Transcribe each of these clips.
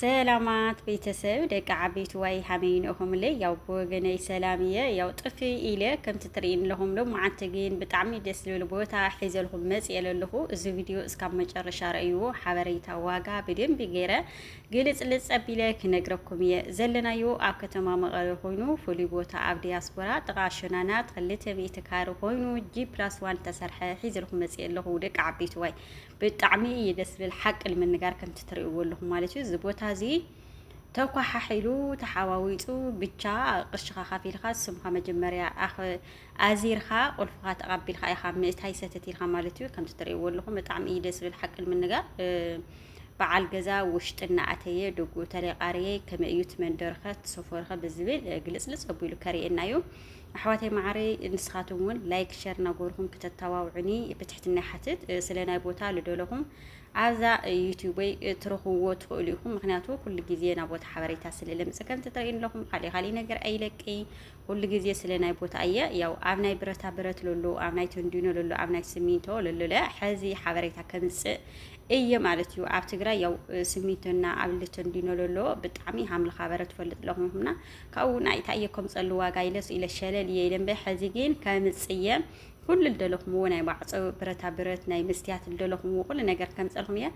ሰላማት ቤተሰብ ደቂ ዓበይቲ ዋይ ሃመይ ንእኹምለይ ያው ብወገነይ ሰላም እየ ያው ጥፊ ኢለ ከምቲ ትርእይን ኣለኹም ሎ መዓንቲ ግን ብጣዕሚ ደስ ዝብል ቦታ ሒዘልኹም መፅየ ለለኹ እዚ ቪድዮ እስካብ መጨረሻ ረእይዎ ሓበሬታ ዋጋ ብደንቢ ገይረ ግልፅልፅ ጸቢለ ክነግረኩም እየ ዘለናዮ ኣብ ከተማ መቐለ ኮይኑ ፍሉይ ቦታ ኣብ ዲያስፖራ ጥቓ ሸናናት ክልተ ሚእቲ ካሪ ኮይኑ ጂ ፕላስ ዋን ተሰርሐ ሒዘልኹም መፅየ ኣለኹ ደቂ ዓበይቲ ዋይ ብጣዕሚ እዩ ደስ ዝብል ሓቂ ንምንጋር ከምቲ ትርእይዎ ኣለኹም ማለት እዩ። እዚ ቦታ እዚ ተኳሓሒሉ ተሓዋዊፁ ብቻ ቅርሽኻ ካፊልካ ስምካ መጀመርያ ኣዚርካ ቁልፍኻ ተቐቢልካ ኢኻ ምእታይ ሰተት ኢልካ ማለት እዩ። ከምቲ ትርእይዎ ኣለኹም ብጣዕሚ እዩ ደስ ዝብል ሓቂ ንምንጋር በዓል ገዛ ውሽጢ እናኣተየ ደጉ ተለቃርየ ከመይ እዩ ትመንደርኸ ትሰፈርኸ ብዝብል ግልፅልፅ ኣቢሉ ከርእየና እዩ። ኣሕዋተይ ማዓረይ ንስኻትም እውን ላይክ ሸር ናጎርኹም ክተታዋውዕኒ ብትሕትና ይሓትት ስለ ናይ ቦታ ልደለኹም ኣብዛ ዩቲዩበይ ትረኽብዎ ትኽእሉ ኢኹም ምክንያቱ ኩሉ ግዜ ናብ ቦታ ሓበሬታ ስለ ለምፅ ከምቲ ትረእዩን ኣለኹም ካሊእ ካሊእ ነገር ኣይለቅይ ኩሉ ግዜ ስለ ናይ ቦታ እየ ያው ኣብ ናይ ብረታ ብረት ለሎ ኣብ ናይ ተንዲኖ ለሎ ኣብ ናይ ስሚንቶ ለሎለ ሕዚ ሓበሬታ ከምፅእ እየ ማለት እዩ ኣብ ትግራይ ያው ስሚንቶና ኣብ ልተንዲኖ ለሎ ብጣዕሚ ሃምልኻ በረ ትፈልጥ ለኹምና ካብኡ ናይ ታየ ከምፀሉ ዋጋ ኢለ ስኢለ ሸለል እየ ኢለ እምበይ ሐዚ ግን ከምፅ እየ ኩሉ ልደለኹምዎ ናይ ማዕፆ ብረታ ብረት ናይ መስትያት ልደለኹምዎ ኩሉ ነገር ከምፀልኹም እየ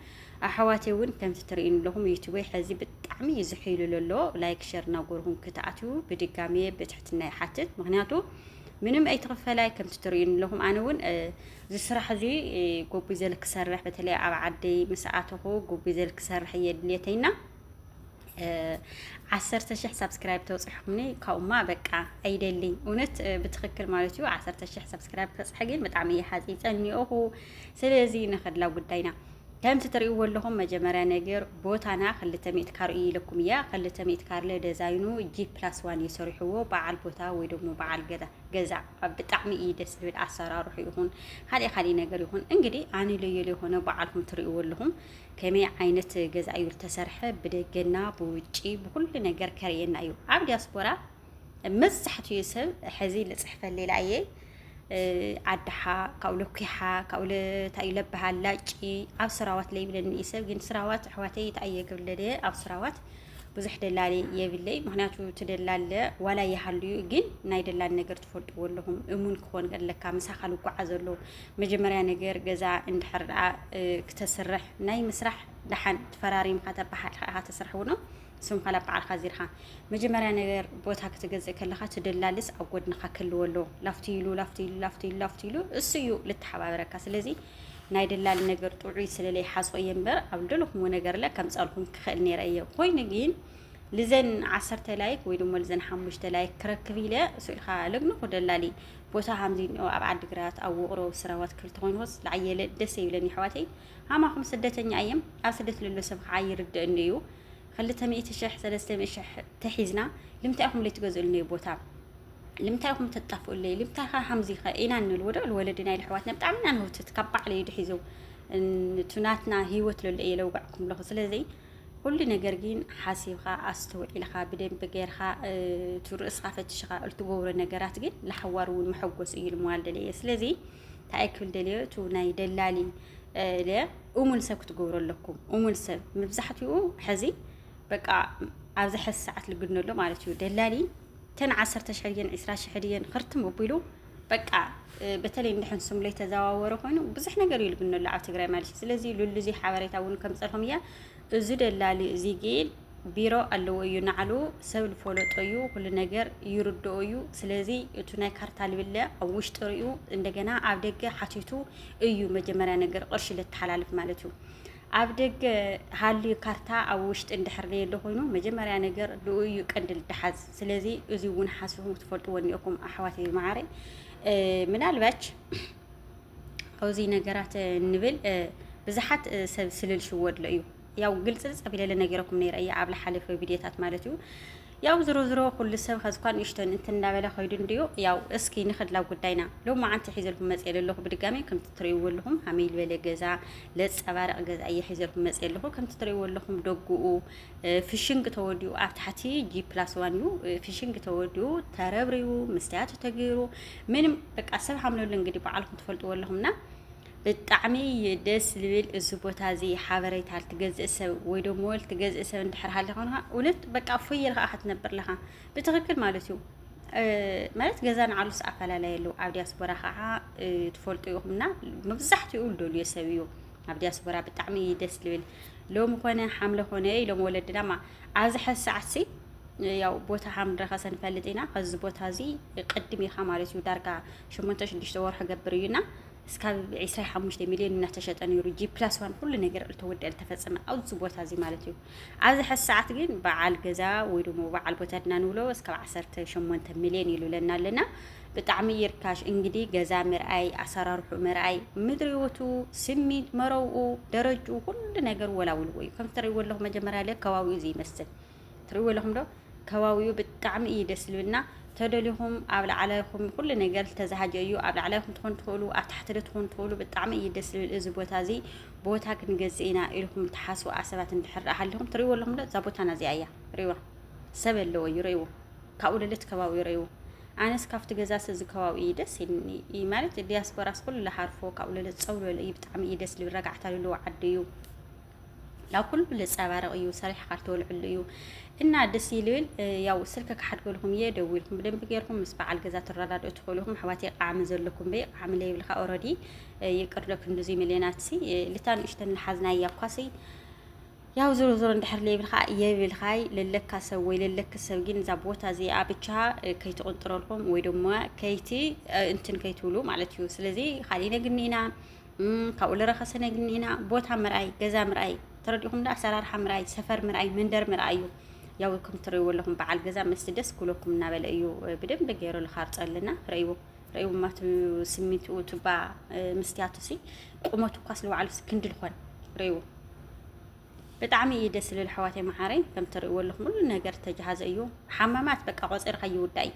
ኣሕዋተይ እውን ከምቲ ትርእዩኒ ኣለኹም ዩቱበይ ሐዚ ብጣዕሚ እዩ ዝሕይሉ ዘሎ ላይክ ሸር እናጎርኹም ክትኣትዩ ብድጋሚ ብትሕትና ይሓትት ምክንያቱ ምንም ኣይትኽፈላይ ከምቲ ትርእዩኒ ኣለኹም ኣነ እውን እዚ ስራሕ እዚ ጎቡይ ዘል ክሰርሕ በተለይ ኣብ ዓደይ ምስ ኣተኹ ጎቡይ ዘል ክሰርሕ እየ ድልየተይና ዓሰርተ ሽሕ ሳብስክራይብ ተውፅሑኒ ካብኡማ በቃ ኣይደልይ እውነት ብትክክል ማለት እዩ ዓሰርተ ሽሕ ሳብስክራይብ ክበፅሐ ግን ብጣዕሚ እየ ሓፂፀ እኒኦኹ ስለዚ ንኸድላ ጉዳይና ከምቲ ትሪእዎ ኣለኹም መጀመርያ ነገር ቦታና ክልተ ሚእቲ ካር እዩ ኢለኩም እያ ክልተ ሚእቲ ካርለ ደዛይኑ ጂ ፕላስ ዋን እዩ ሰሪሕዎ በዓል ቦታ ወይ ደግሞ በዓል ገዛ ብጣዕሚ እዩ ደስ ዝብል ኣሰራርሑ ይኹን ካልእ ካልእ ነገር ይኹን እንግዲህ ኣንለየሉ የሆነ በዓልኩም ትሪእዎ ኣለኹም ከመይ ዓይነት ገዛ እዩ ዝተሰርሐ ብደገና ብውጪ ብኩሉ ነገር ከርእየና እዩ ኣብ ዲያስፖራ መብዛሕትኡ ሰብ ሕዚ ልፅሕፈል ሌላ እየ ዓድሓ ካብኡ ለኩሓ ካብኡ ለታይ ለበሃል ላጪ ኣብ ስራዋት ለይብለኒ እዩ ሰብ ግን ስራዋት ኣሕዋተይ ተኣየ ክብለደ ኣብ ስራዋት ብዙሕ ደላሊ የብለይ ምክንያቱ ትደላለ ዋላ ይሃሉ እዩ ግን ናይ ደላል ነገር ትፈልጥዎ ኣለኹም እሙን ክኾን ኣለካ ምሳኻ ልጓዓ ዘሎ መጀመርያ ነገር ገዛ እንድሕር ደኣ ክተስርሕ ናይ ምስራሕ ደሓን ተፈራሪምካ ተበሓቂኻ ኢኻ ተስርሕ እውን ስምካ ናብ በዓልካ ዚርካ መጀመርያ ነገር ቦታ ክትገዝእ ከለካ ትደላልስ ኣብ ጎድንካ ክህልዎ ኣለዎ ላፍቲ ኢሉ ላፍቲ ኢሉ ላፍቲ ኢሉ ላፍቲ ኢሉ እሱ እዩ ልተሓባበረካ ስለዚ ናይ ደላሊ ነገር ጥዑይ ስለለይ ሓሶ እየ እምበር ኣብ ደለኹምዎ ነገር ለ ከምፀልኩም ክኽእል ነይረ እየ ኮይኑ ግን ልዘን ዓሰርተ ላይክ ወይ ድማ ልዘን ሓሙሽተ ላይክ ክረክብ ኢለ ስኢልካ ለግንኹ ደላሊ ቦታ ሃምዚ እኒኦ ኣብ ዓዲግራት ኣብ ውቕሮ ስራዋት ክልተ ኮይኑ ወስ ለዓየለ ደስ ይብለኒ ኣሕዋተይ ሃማኹም ስደተኛ እየም ኣብ ስደት ለሎ ሰብ ከዓ ይርድእኒ እዩ ክልተ ሚእቲ ሽሕ ሰለስተ ሚእቲ ሽሕ ተሒዝና ልምታይ ኢኹም ለይትገዝኡልኒ ቦታ ልምታይ ኢኹም ተጣፍኡለይ ልምታይ ኸ ሃምዚ ኸ ኢና ንብል ወደ ወለዲ ናይ ኣሕዋትና ብጣዕሚ ኢና ንህውትት ካብ ባዕለይ ድሒዞ ንቱናትና ህይወት ለሎ እየ ለውጋዕኩም ለኹ ስለዚ ኩሉ ነገር ግን ሓሲብካ ኣስተውዒልካ ብደንቢ ጌርካ እቲ ርእስካ ፈትሽካ እትገብሮ ነገራት ግን ንሓዋሩ እውን መሐጎሲ እዩ ልምዋል ደለየ ስለዚ እንታይ ክብል ደልዮ እቲ ናይ ደላሊ ለ እሙን ሰብ ክትገብሮ ኣለኩም እሙን ሰብ መብዛሕትኡ ሕዚ በቃ ኣብዚ ሕዚ ሰዓት ልግነሎ ማለት እዩ ደላሊ ተን ዓሰርተ ሽሕ ድየን ዕስራ ሽሕ ድየን ክርትም ኣቢሉ በቃ በተለይ እንደ ሕንሱም ላይ ተዘዋወረ ኮይኑ ብዙሕ ነገር እዩ ልብኖ ኣብ ትግራይ ማለት እዩ ስለዚ ሉሉ እዚ ሓበሬታ እውን ከም ፀርሖም እያ እዚ ደላሊ እዚ ግን ቢሮ ኣለዎ እዩ ናዕሉ ሰብ ልፈለጦ እዩ ኩሉ ነገር ይርድኦ እዩ ስለዚ እቲ ናይ ካርታ ልብለ ኣብ ውሽጢ ሪኡ እንደገና ኣብ ደገ ሓቲቱ እዩ መጀመሪያ ነገር ቅርሺ ልተሓላልፍ ማለት እዩ ኣብ ደገ ሃልዩ ካርታ ኣብ ውሽጢ እንድሕር ለየለ ኮይኑ መጀመሪያ ነገር ልኡ እዩ ቀንዲ ልደሓዝ ስለዚ እዚ እውን ሓስብኩም ክትፈልጥዎ እኒኦኩም ኣሕዋተይ መዓረይ ምናልባች ኣብዚ ነገራት ንብል ብዙሓት ሰብ ስልል ሽወድሎ እዩ ያው ግልጽ ጸቢለለ ነገረኩም ነይረ እያ ኣብ ለሓለፈ ቪድዮታት ማለት እዩ ያው ዝሮ ዝሮ ኩሉ ሰብ ከዝኳን ንእሽቶን እንትን እናበለ ከይዱ እንድዩ ያው እስኪ ንክድላ ጉዳይና ሎ መዓንቲ ሒዘልኩም መፅ የለለኹ ብድጋሚ ከምቲ ትርእይዎ ኣለኹም ሃመይ ዝበለ ገዛ ለፀባረቕ ገዛ እየ ሒዘልኩም መፅ የለኹ ከምቲ ትርእይዎ ኣለኹም ደጉኡ ፍሽንግ ተወዲኡ ኣብ ታሕቲ ጂ ፕላስ ዋን እዩ ፍሽንግ ተወዲኡ ተረብሪቡ መስትያቱ ተገይሩ ምንም በቃ ሰብ ሓምለሉ እንግዲህ በዓልኩም ትፈልጥዎ ኣለኹምና ብጣዕሚ ደስ ልብል እዚ ቦታ እዚ ሓበሬታ ልትገዝእ ሰብ ወይ ደሞ ልትገዝእ ሰብ እንድሕር ሃሊ ኾንካ እውነት በቃ ፎይ ኢልካ ኢኻ ትነብር ለኻ ብትኽክል ማለት እዩ ማለት ገዛ ንዓሉስ ኣፈላለየ ኣለዉ ኣብ ዲያስፖራ ከዓ ትፈልጡ ኢኹምና መብዛሕትኡ ልደልዮ ሰብ እዩ ኣብ ዲያስፖራ ብጣዕሚ እዩ ደስ ልብል ሎሚ ኮነ ሓምለ ኮነ ኢሎም ወለድና ማ ኣብዚ ሕዚ ሰዓት ሲ ያው ቦታ ሓምረኸ ሰንፈልጥ ኢና ከዚ ቦታ እዚ ቅድም ኢኻ ማለት እዩ ዳርጋ ሸሞንተ ሽዱሽተ ወርሒ ገብር እዩና እስካብ 25 ሚሊዮን እናተሸጠ ነይሩ ጂ ፕላስ ዋን ኩሉ ነገር እልተወደል ተፈፀመ ኣብዚ ቦታ እዚ ማለት እዩ ኣብዚ ሐዚ ሰዓት ግን በዓል ገዛ ወይ ደሞ በዓል ቦታ ድና ንብሎ እስካብ ዓሰርተ ሸሞንተ ሚልዮን ኢሉለና ኣለና ብጣዕሚ ይርካሽ እንግዲህ ገዛ ምርኣይ ኣሰራርሑ ምርኣይ ምድሪዎቱ ስሚንት መረብኡ ደረጅኡ ኩሉ ነገር ወላውልዎ እዩ ከምቲ ትርእይዎ ኣለኹም መጀመርያ ለ ከባቢኡ እዚ ይመስል ትርእይዎ ኣለኹም ዶ ከባቢኡ ብጣዕሚ እዩ ደስ ዝብልና ተደሊኹም ኣብ ላዕላይኹም ኩሉ ነገር ዝተዛሃጀ እዩ። ኣብ ላዕላይኹም ትኾኑ ትኽእሉ፣ ኣብ ታሕቲ ትኾኑ ትኽእሉ። ብጣዕሚ እዩ ደስ ዝብል እዚ ቦታ እዚ ቦታ ክንገዝእ ኢና ኢልኩም ትሓስቡ ኣሰባት እንድሕር ሃሊኹም ትሪእዎ ኣለኹም ዶ እዛ ቦታና እዚኣ እያ ሪእዋ ሰብ ኣለዎ እዩ ሪእዎ ካብኡ ልልት ከባቢ ሪእዎ ኣነስ ካብቲ ገዛ እዚ ከባቢ እዩ ደስ ይልኒ ማለት ዲያስፖራስ ኩሉ ልሃርፎ ካብኡ ልልት ፀው ዝበለ እዩ ብጣዕሚ እዩ ደስ ዝብል ረጋዕታ ዘለዎ ዓዲ እዩ ያው ኩሉ ልጸባረቅ እዩ ሰሪሕካ ልትወልዕሉ እዩ እና ደስ ይልብል ያው ስልከ ክሓድገልኩም እየ ደዊልኩም ብደንብ ገርኩም ምስ በዓል ገዛ ትረዳድኡ ትኽእሉ ኢኹም ኣሕዋት ቃዕሚ ዘለኩም በይ ቃዕሚ ለይብልካ ኦረዲ ይቅር ዶ ክንዱዙይ ሚልዮናት ሲ ልታ ንእሽተን ልሓዝና እያ እኳሲ ያው ዞሮ ዞሮ እንድሕር ለይብልካ የብልካይ ለለካ ሰብ ወይ ለለክ ሰብ ግን እዛ ቦታ እዚኣ ብቻ ከይትቁንጥረልኩም ወይ ድማ ከይቲ እንትን ከይትብሉ ማለት እዩ ስለዚ ካሊእ ነግኒ ኢና ካብኡ ልረኸሰ ነግኒና ቦታ ምርኣይ፣ ገዛ ምርኣይ ተረዲኹም ዶ ኣሰራርሓ ምርኣይ፣ ሰፈር ምርኣይ፣ መንደር ምርኣይ እዩ። ያው ከም ትርእይዎ ኣለኹም በዓል ገዛ ምስ ደስ ክብለኩም እናበለ እዩ ብደንብ ገይሩ ዝኻርፀልና ረእይዎ ረእይዎ ማቱ ስሚንቱ ቱባ መስትያቱ ሲ ቁመቱ እኳ ስለባዕሉ ክንዲ ዝኾን ረእይዎ ብጣዕሚ እዩ ደስ ዝብል ኣሕዋተይ መዓረይ ከም ትርእይዎ ኣለኹም ሁሉ ነገር ተጀሃዘ እዩ። ሓማማት በቃ ቆፂርካ ይውዳእ እዩ።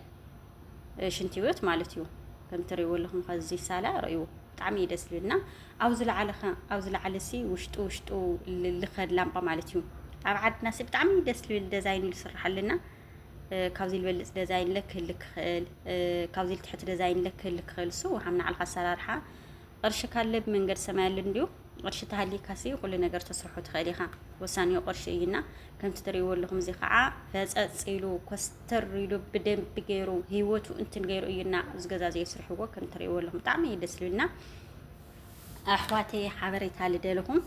ሽንቲ ቤት ማለት እዩ ከም ትርእይዎ ኣለኹም ከዚ ሳላ ርእይዎ ብጣዕሚ እዩ ደስ ዝብልና ኣብ ዝለዓለ ኣብ ዝለዓለ ሲ ውሽጡ ውሽጡ ልኸድ ላምጳ ማለት እዩ ኣብ ዓድና ሲ ብጣዕሚ ደስ ዝብል ደዛይን እዩ ዝስራሕ ኣለና ካብዚ ዝበልፅ ደዛይን ለ ክህል ክኽእል ካብዚ ልትሕቲ ደዛይን ለ ክህል ክኽእል እሱ ውሃም ንዓልካ ኣሰራርሓ ቅርሺ ካለ ብመንገድ ሰማይ ኣለ እንዲዩ ቅርሺ ተሃሊካ ሲ ኩሉ ነገር ተስርሖ ትኽእል ኢኻ። ወሳኒኡ ቅርሺ እዩና ከምቲ ትርእይዎ ኣለኹም እዚ ከዓ ፈፀፅ ኢሉ ኮስተር ኢሉ ብደንቢ ገይሩ ህይወቱ እንትን ገይሩ እዩና እዚ ገዛ እዚ የስርሕዎ ከም ትርእይዎ ኣለኹም ብጣዕሚ እዩ ደስ ዝብልና ኣሕዋተይ ሓበሬታ ልደልኹም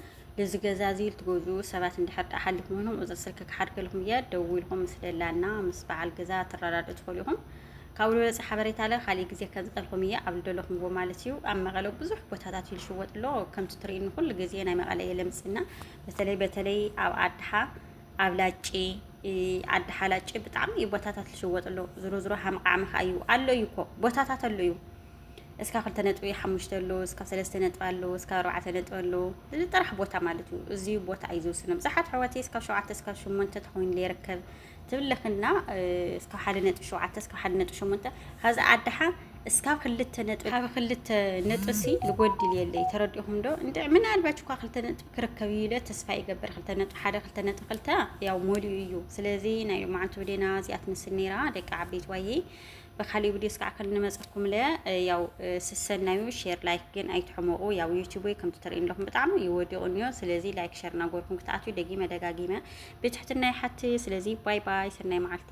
እዚ ገዛ እዚ ልትገዙ ሰባት እንድሕር ዳኣ ሓሊኹም ኮይኖም ቁፅሪ ስልኪ ክሓድገልኹም እየ ደዊልኩም ምስ ደላና ምስ በዓል ገዛ ትረዳድኡ ትኽእሉ ኢኹም ካብ ልወፀ ሓበሬታ ለ ካሊእ ግዜ ከዝቀልኩም እየ ኣብ ልደለኹምዎ ማለት እዩ ኣብ መቐለ ብዙሕ ቦታታት እዩ ልሽወጥ ኣሎ ከምቲ ትርእዩኒ ኩሉ ግዜ ናይ መቐለ እየ ለምፅና በተለይ በተለይ ኣብ ኣድሓ ኣብ ላጪ ኣድሓ ላጪ ብጣዕሚ እዩ ቦታታት ልሽወጥ ኣሎ ዝሮ ዝሮ ሃምቃዕሚ ከዓ እዩ ኣሎ እዩ እኮ ቦታታት ኣሎ እዩ እስካ ክልተ ነጥቢ ሓሙሽተ ኣሎ እስካ ሰለስተ ነጥቢ ኣሎ እስካ ኣርባዕተ ነጥቢ ኣሎ እዚ ጥራሕ ቦታ ማለት እዩ እዚ ቦታ እዩ ዝውስነ ብዙሓት ኣሕዋተይ እስካብ ሸውዓተ እስካብ ሸሞንተ ተኮይኑ ይርከብ ትብለክና እስካብ ሓደ ነጥቢ ሸውዓተ እስካብ ሓደ ነጥቢ ሸሞንተ ካብዚ ኣድሓ እስካብ ክልተ ነጥቢ ካብ ክልተ ነጥሲ ልጎድል የለይ ተረዲኹም ዶ እንድዕ ምናልባች እኳ ክልተ ነጥቢ ክርከብ እዩ ኢለ ተስፋ ይገብር ክልተ ነጥቢ ሓደ ክልተ ነጥቢ ክልተ ያው ሞሊኡ እዩ ስለዚ ናይ መዓንቱ ብዴና እዚኣ ትመስል ነይራ ደቂ ዓበይቲ ዋየ በካሊ ቪዲዮስ ከዓ ከንመፀኩም ለያ ያው ስሰናዩ ሼር ላይክ ግን ኣይትሕመቑ ያው ዩቱብ ወይ ከምቲ ትርእዩ ኣለኹም ብጣዕሚ እዩ ወዲቑ እኒዮ ስለዚ ላይክ ሸር እናጎርኩም ክትኣትዩ ደጊመ ደጋጊመ ብትሕትና ይሓት ስለዚ ባይ ባይ ሰናይ መዓልቲ